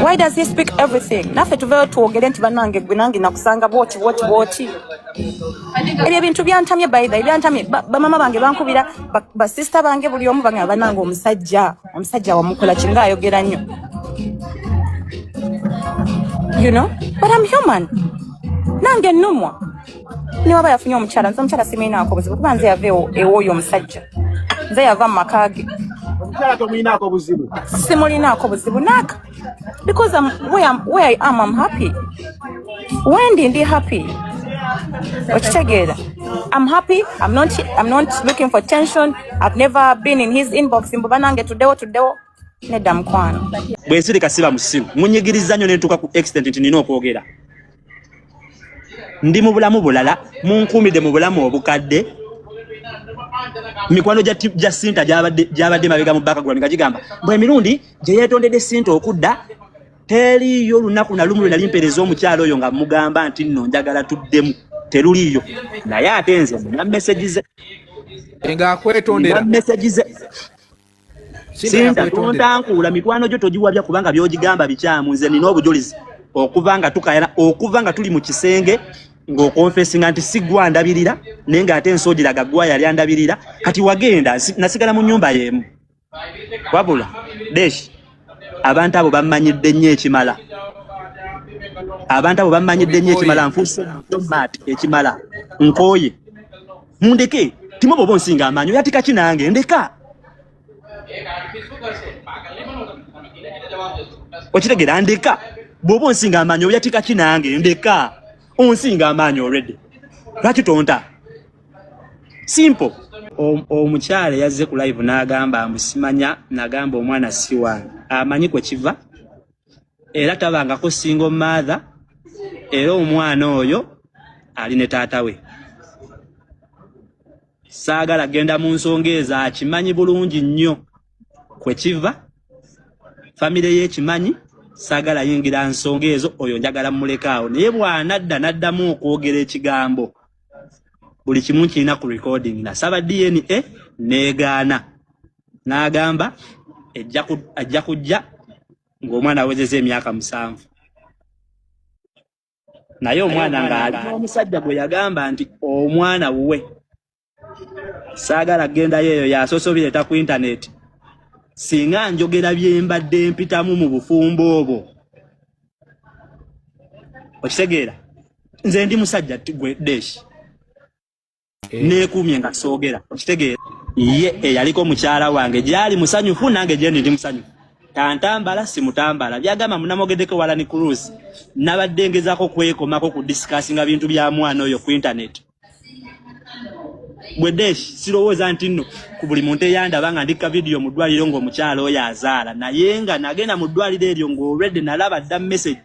why does he speak everything naffe tuveyo twogere nti banange gwe nange nakusanga bwoti bwoti bwoti ebyo ebintu byantamye baitha ebyantamye bamama bange bankubira basista bange buli omu banga banange omusajja omusajja wamukola kinga ayogera nnyo you know but am human nange numwa niwaba yafunye omukyala nze omukyala simuyinaako buzibu kuba nze yava ewooyo omusajja nze yava mu maka ge omukyala tomuyinaako buzibu simulinaako buzibu naaka because I'm, where, I'm, where I am I'm happy wendi ndi happy okitegeera I'm happy I'm not, I'm not looking for tension I've never been in his inbox mbu banange tuddewo tuddewo nedda mukwano bwensirika siba musimu munyigiriza nnyo nentuuka ku extent nti nina okwogera ndi mu bulamu bulala munkuumidde mu bulamu obukadde mikwano gya sinta gyabadde mabega mu bakagula nga gigamba bwe emirundi gye yeetondedde sinta okudda teriiyo olunaku na lumu lwe nali mpeereza omukyalo oyo nga mugamba nti nno njagala tuddemu teruliiyo naye ate nze nina meseji ze ngaakwetondera meseji ze Sinta tontankuula mikwano gyo togiwabya kubanga byogigamba bikyamu nze nina obujulizi okuva nga tukayana okuva nga tuli mu kisenge ng'okonfesinga nti si gwe andabirira naye ng'ate ensoogiraga gwa yali andabirira kati wagenda nasigala mu nnyumba y'emu wabula deshi abantu abo bammanyidde nnyo ekimala abantu abo bammanyidde nnyo ekimala nfuuse ekimala nkooye Mundeke timo bobo nsinga amanyo yatika kinange ndeka. Okitegera ndeka bobo nsinga amanyo yatika kinange ndeka. Onsinga amanyo already. Lwaki tonta? Simple. Omukyala yazze ku live n'agamba mbu simanya, nagamba omwana si wange. Amanyi kwe kiva. era tabangako single mother era omwana oyo ali ne taata we saagala genda mu nsonga ezo akimanyi bulungi nnyo kwe kiva famire ye ekimanyi saagala yingira nsonga ezo oyo njagala mulekaawo naye bw'anadda n'addamu okwogera ekigambo buli kimu kirina ku recording nasaba dna neegaana n'agamba ajja kujja ng'omwana awezeza emyaka musanvu naye omwana ng'ali n'omusajja gwe yagamba nti omwana wuwe saagala kugendayo eyo yasoose obireeta ku intaneeti singa njogera bye mbadde mpitamu mu bufumbo obwo okitegeera nze ndi musajja gwe deshi Eh. neekuumye nga soogera okitegeera ye eyaliko mukyala wange gyali musanyufu nange gyendi ndi musanyufu tantambala simutambala byagamba munamogedeko walani cruise nabadde ngezako kwekomako ku discussinga bintu bya mwana oyo ku internet bwedesh sirowooza nti nno ku buli muntu eyandaba nga ndikka vidiyo mu ddwaliro ng'omukyala oyo azaala naye nga nagenda mu ddwaliro eryo ng'olwedde nalaba dda message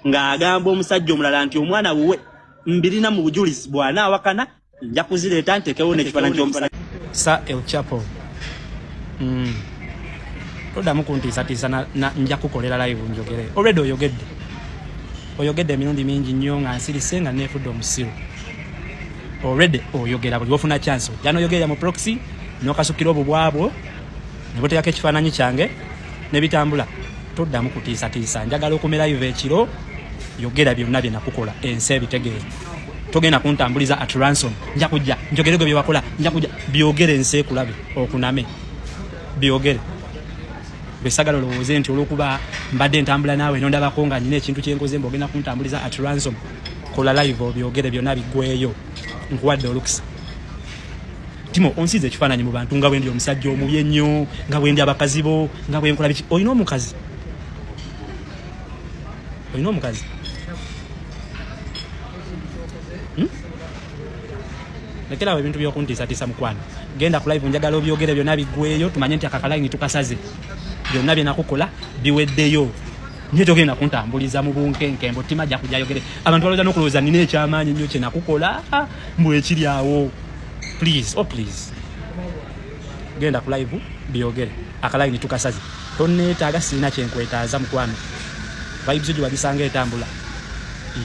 ng'agamba omusajja omulala nti omwana wuwe mbirina mu bujulizi bwana awakana nja kuzireeta ntekewo nekifaananyi kyomusajja sa el chapo mm. todamu kuntiisatiisa nja kukolera live njogere olwedde oyogedde oyogedde emirundi mingi nnyo nga nsirise nga neefudde omusiru olwedde oyogera buli wofuna chance ojja noyogerera mu proxy nokasukira obubwabwo ne buteekako ekifaananyi kyange ne bitambula toddamu kutiisatiisa njagala okumera iva ekiro yogera byonna bye nakukola ensi ebitegeere togenda kuntambuliza at ransom nja kujja njogere gwe byewakola nja kujja byogere ensi ekulabe okuname byogere besagala olowooze nti olwokuba mbadde ntambula naawe nondabako nga nyina ekintu kyenkoze mba ogenda kuntambuliza at ransom kola live obyogere byonna biggweyo nkuwadde olukisa Timo onsize ekifaananyi mu bantu nga bwendi omusajja omubi ennyo nga bwendi abakazi bo nga bwenkola biki olina omukazi olina omukazi hmm? lekerawo ebintu byokuntiisatiisa mukwano genda ku live njagala obyogere byonna biggweeyo tumanye nti akakalaini tukasaze byonna byenakukola biweddeyo nyo togenda kuntambuliza mu bunkenke mbu tima ajja kujayogere abantu balowooza n'okulowooza nina ekyamaanyi nnyo kyenakukola mbu ekiri awo please oh please genda ku live byogere akalayini tukasaze tonneetaaga sirina kyenkwetaaza mukwano vibes gye wagisanga etambula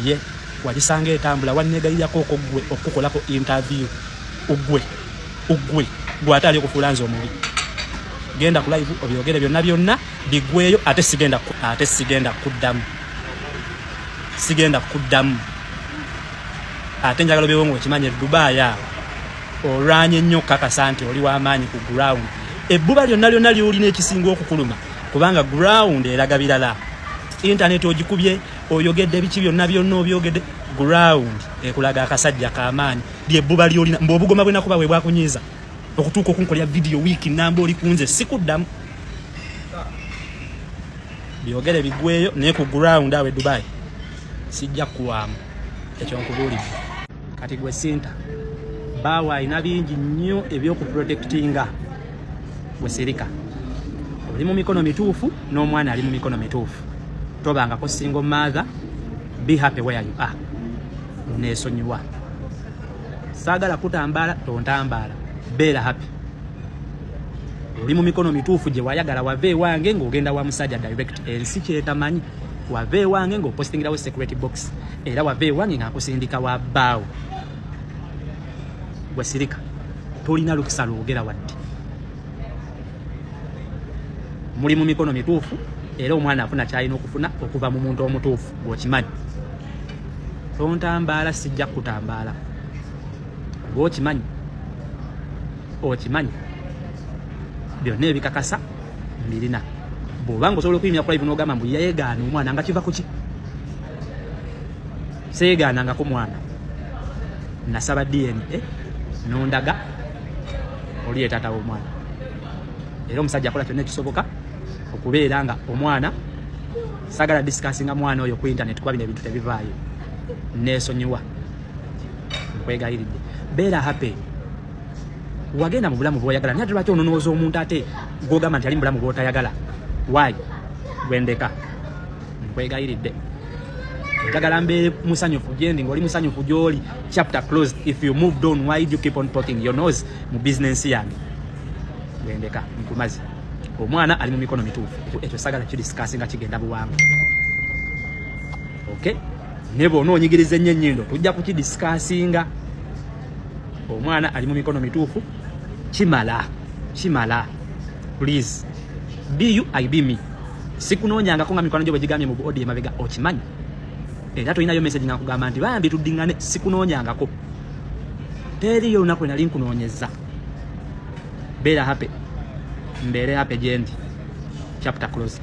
ye wagisanga etambula wanneegayirako oko gwe okukukolako interview ugwe ugwe gwate ali okufuula nze omubi genda ku live obyogere byonna byonna bigweyo ate sigenda ate sigenda kuddamu sigenda kuddamu ate njagala obeewo ngaokimanya dubai awo olwanye nnyo okukakasa nti oli wamaanyi ku ground ebbuba lyonna lyonna lyolina ekisinga okukuluma kubanga ground eraga birala intaneti ogikubye oyogedde biki byonna byonna obyogedde ground ekulaga akasajja kamaanyi lyebbuba lyolina mbu obugoma bwenakuba we bwakunyiiza okutuuka okunkolera vidiyo wiiki namba oli kunze sikuddamu byogere bigweyo naye ku ground awe dubai sijja kuwaamu ekyo nkubuulidde kati gwe sinta baawo alina bingi nnyo ebyokuprotectinga gwe sirika oli mu mikono mituufu n'omwana ali mu mikono mituufu tobangako single mother be happy where you are nesonyiwa saagala kutambaala tontambaala beera happy oli mu mikono mituufu gye wayagala wava ewange ng'ogenda wa musajja direct ensi kyetamanyi wava ewange ngaopostingirawo security box era wava ewange ngaakusindika wa baawo gwesirika tolina lukisa lwogera wadde muli mu mikono mituufu era omwana afuna kyalina okufuna okuva mu muntu omutuufu gwokimanyi tontambaala sijja kukutambaala kuba okimanyi okimanyi byonna ebikakasa mirina bwobanga osobola okuyimira kulive nogamba mbu yegaana omwana nga kiva kuki seyegaanangako mwana nasaba dna eh, nondaga oli yetaata womwana era omusajja akola kyonna ekisoboka okubeera nga omwana sagala disikasinga mwana oyo ku internet kuba bino ebintu tebivaayo nesonyiwa nkwegayiridde beera happy wagenda mu bulamu bwoyagala naye ate lwaki ononooza omuntu ate gwogamba nti ali mu bulamu bwotayagala waayi gwendeka nkwegayiridde njagala mbeere musanyufu gyendi ngaoli musanyufu gyoli chapter closed if you moved on why you keep on poking your nose mu business yange gwendeka nkumazi omwana ali mu mikono mituufu ekyo sagala kidiscasi nga kigenda buwangu okay ne bwona onyigiriza ennyo ennyindo tujja kukidiscasinga omwana ali mu mikono mituufu kimala kimala please be you i be me sikunoonyangako nga mikwano gyo bwe gigambye mu buodi emabega okimanyi era tolinayo message nga nkugamba nti bambi tuddingane sikunoonyangako teriyo olunaku lwenali nkunoonyeza beera happy mbeere happy gyendi chapter closed